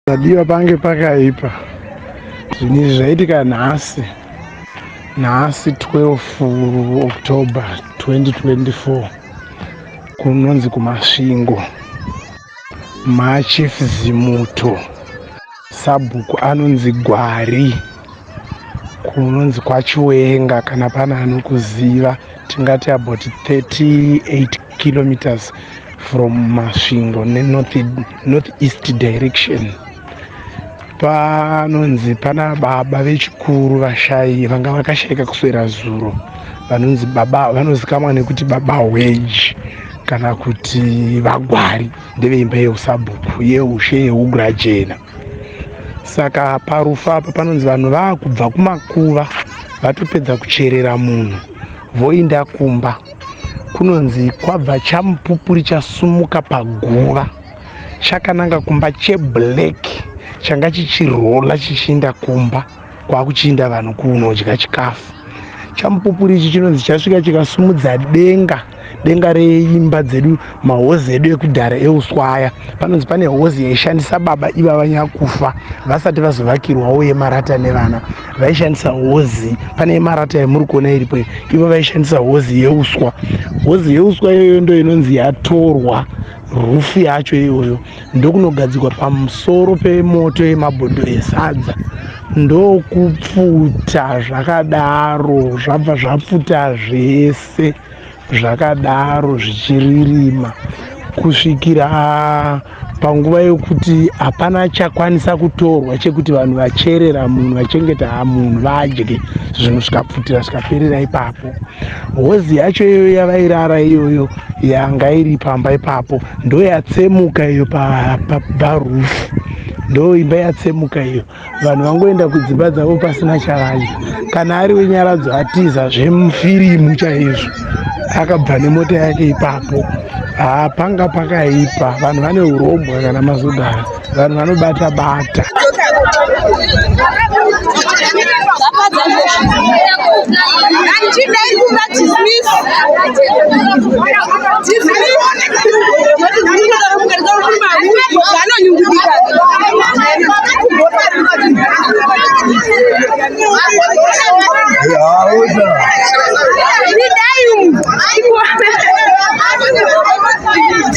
Padiwa pange pakaipa zvinhu izvi zvaitika nhasi nhasi 12 october 2024 kunonzi kumasvingo machief zimuto sabhuku anonzi gwari kunonzi kwachiwenga kana pana anokuziva tingati about 38 kilometers from masvingo nenorth north east direction panonzi pana baba vechikuru vashayi vanga vakashayika kuswera zuro vanonzi baba vanozikamwa nekuti baba hweji kana kuti vagwari ndeveimba yeusabhuku yeushe yeugurajena saka parufu apa panonzi vanhu vakubva kumakuva vatopedza kucherera munhu voinda kumba kunonzi kwabva chamupupuri chasumuka paguva chakananga kumba cheblack changa chichirola chichiinda kumba kwakuchinda vanhu kunodya chikafu chamupupuri ichi chinonzi chasvika chikasumudza denga denga reimba dzedu mahozi edu ekudhara euswaya panonzi pane hozi yaishandisa baba iva vanyakufa vasati vazovakirwawo yemarata nevana vaishandisa hozi pane yemarata yamuri kuona iripo ivo vaishandisa hozi yeuswa hozi yeuswa iyoyo ndo inonzi yatorwa rufu yacho iyoyo ndokunogadzikwa pamusoro pemoto yemabhodhoro esadza ndokupfuta zvakadaro zvabva zvapfuta zvese zvakadaro zvichiririma kusvikira panguva yokuti hapana chakwanisa kutorwa chekuti vanhu vacherera munhu vachengeta munhu vadye zvinhu zvikapfutira zvikaperera ipapo hozi yacho iyoyo yavairara iyoyo yanga iri pamba ipapo ndoyatsemuka iyo pabarufu pa, ndo imba yatsemuka iyo vanhu vangoenda kudzimba dzavo pasina chavadya kana ari wenyaradzo atiza zvemufirimu chaizvo akabva nemota yake ipapo haa panga pakaipa vanhu vane urombwa kana mazodaro vanhu vanobata bata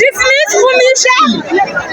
Dismiss Fumisha.